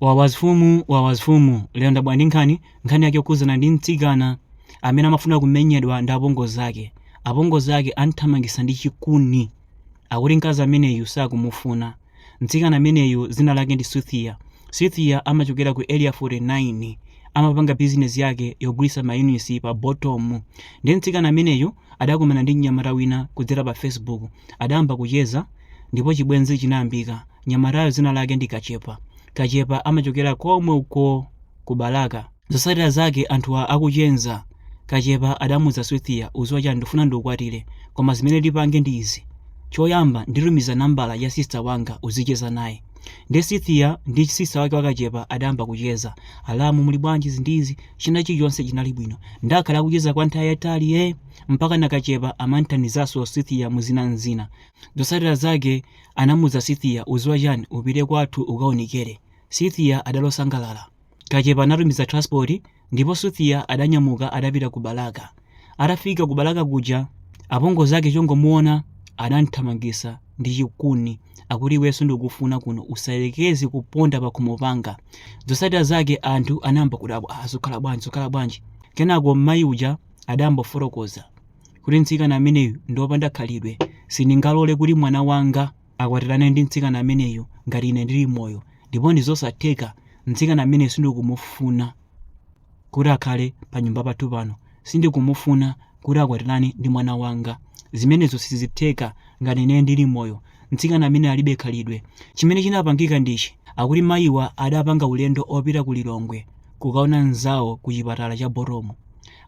Wawa azifumu wawa azifumu lero ndabwera ndi nkhani nkhani yake yokhudzana ndi mtsikana amene amafuna kumenyedwa ndi apongozi ake apongozi ake amthamangisa ndi chikuni akuti mkazi ameneyu sakumufuna mtsikana ameneyu dzina lake ndi Cynthia Cynthia amachokera ku area 49 amapanga bizinesi yake yogulisa mayunisi pa Bottom nde mtsikana ameneyu adakumana ndi mnyamata wina kudzera pa facebook adayamba kucheza ndipo chibwenzi chinayambika Mnyamatayo zina lake ndi Kachepa. Kachepa amachokera komwe uko ku Balaka. Zosatira zake anthuwa akucheza Kachepa adamuuza Cynthia uziwa chani ndufuna ndikukwatire koma zimene tipange ndi izi choyamba nditumiza nambala ya sister wanga uzicheza naye nde Cynthia ndi sister wake wa Kachepa adayamba kucheza alamu muli bwanji izi ndi izi china chilichonse chinali bwino nde akhala akucheza kwa nthawi yayitali ee mpakana Kachepa amamthandizaso Cynthia muzina nzina Zosatira zake anamuuza Cynthia uziwa chani upite kwathu ukaonekele Cynthia adali osangalala kachepa anatumiza transport ndipo Cynthia adanyamuka adapita ku Balaka atafika ku Balaka kuja apongozi ake chongomuona adamthamangisa ndi chikuni akuti iweyo sindikukufuna kuno usayelekeze kuponda pakhomo panga zosatira zake anthu anayamba kudabwa aah zukhala bwanji zukhala bwanji kenako mmayi uja adayamba kufotokoza kuti mtsikana ameneyu ndi wopanda khalidwe. Sindingalole kuti mwana wanga akwatirane ndi mtsikana ameneyu ngati ine ndili moyo. Ndipo ndi zosatheka, mtsikana ameneyu sindikumufuna kuti akhale panyumba pathu pano. Sindikumufuna kuti akwatirane ndi mwana wanga. Zimenezo sizitheka ngati ine ndili moyo. Mtsikana ameneyu alibe khalidwe. Chimene chinapangika ndi ichi, akuti mayiwa adapanga ulendo opita ku Lilongwe kukaona mnzawo kuchipatala cha Bottom.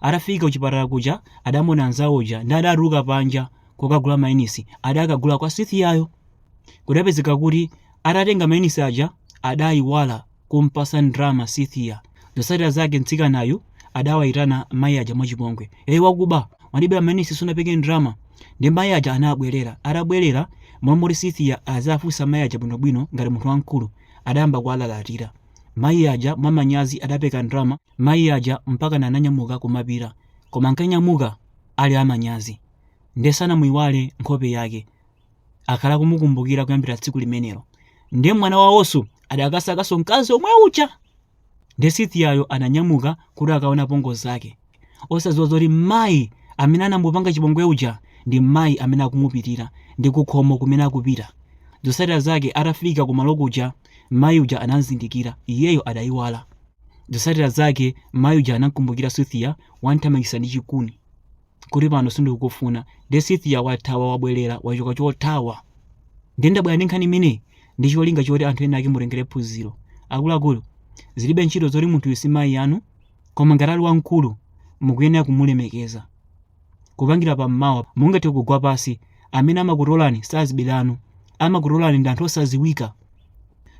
Atafika kuchipatala kuja adamuona mnzawo uja nde adatuluka panja kokagula mayunisi adakagula kwa Cynthiayo. Kudapezeka kuti atatenga mayunisi aja adaiwala kumpatsa ndalama Cynthia. Zotsatira zake mtsikanayu adawaitana mayi aja mwachipongwe. Ee wakuba! Wandibera mayunisi sunapeke ndalama. Ndiye mayi aja anabwerera. Atabwerera, m'malo moti Cynthia aziafunsa mayi aja bwinobwino ngati munthu wamkulu, adayamba kuwalalatira. Mayi aja mwamanyazi adapeka ndalama Mayi aja mpakana ananyamuka kumapita koma ankanyamuka ali amanyazi nde sanamuiwale nkhope yake akhala akumukumbukira kuyambira tsiku limenelo nde mwana wawoso adakasakaso mkazi omwe uja nde Cynthiayo ananyamuka kuti akaone apongozi ake osadziwa zoti mayi amene anamupanga chipongwe uja ndi mayi amene akumupitira ndi kukhomo kumene akupita zotsatira zake atafika kumalo kuja Mai uja anamzindikira, iyeyo adaiwala. Zotsatira zake mai uja anamkumbukira Cynthia wamthamangisa ndi chikuni kuti pano sindikukufuna nde Cynthia wathawa wabwelera wachoka chothawa. Nde ndabwera ndi nkhani imeneyi ndi cholinga choti anthu ena ake mutengere phunziro. Akuluakulu zilibe ntchito zoti munthuyo si mai anu koma ngati ali wamkulu mukuyenera kumulemekeza. Kupangira pa mmawa mungathe kugwa pasi, amene amakutolani si azibale anu, amakutolani ndi anthu osaziwika.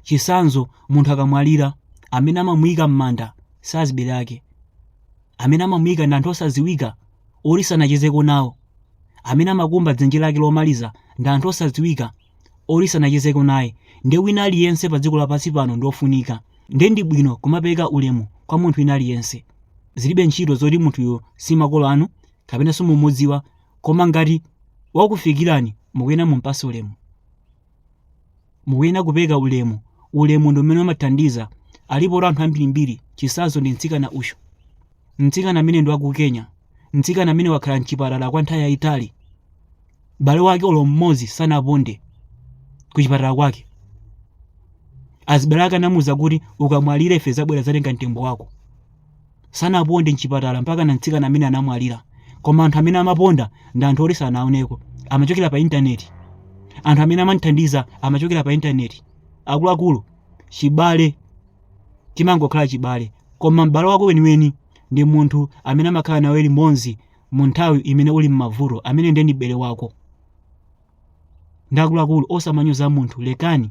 Chisanzo munthu akamwalira, amene amamuika mmanda si azibale ake, amene amamuika ndi anthu osaziwika oti sanachezeko nawo, amene amakumba dzenje lake lomaliza ndi anthu osaziwika oti sanachezeko naye nde wina aliyense pa dziko lapansi pano ndi ofunika nde ndi bwino kumapereka ulemu kwa munthu wina aliyense zilibe ntchito zoti munthuyo si makolo anu kapena simumudziwa koma ngati wakufikirani mukuyenera mumpase ulemu mukuyenera kupereka ulemu ulemu ndi umene umathandiza alipo anthu ambirimbiri chisazo ndi mtsikana uyu mtsikana ameneyu ndi wa ku kenya mtsikana ameneyu wakhala m'chipatala kwa nthawi yayitali bale wake olo mmodzi sanaponde ku chipatala kwake azibale ake anamuza kuti ukamwalira ife tizabwera kuzatenga mtembo wako sanaponde mchipatala mpakana mtsikana ameneyu anamwalira koma anthu amene amaponda ndi anthu oti sanaoneko amachokera pa intaneti anthu amene amamthandiza amachokera pa intaneti akuluakulu chibale chimangokhala chibale koma m'bale wako weniweni ndi munthu amene amakhala nawe limodzi mu nthawi imene uli mmavuto ameneyo nde ndi m'bale wako nde akuluakulu osamanyoza munthu lekani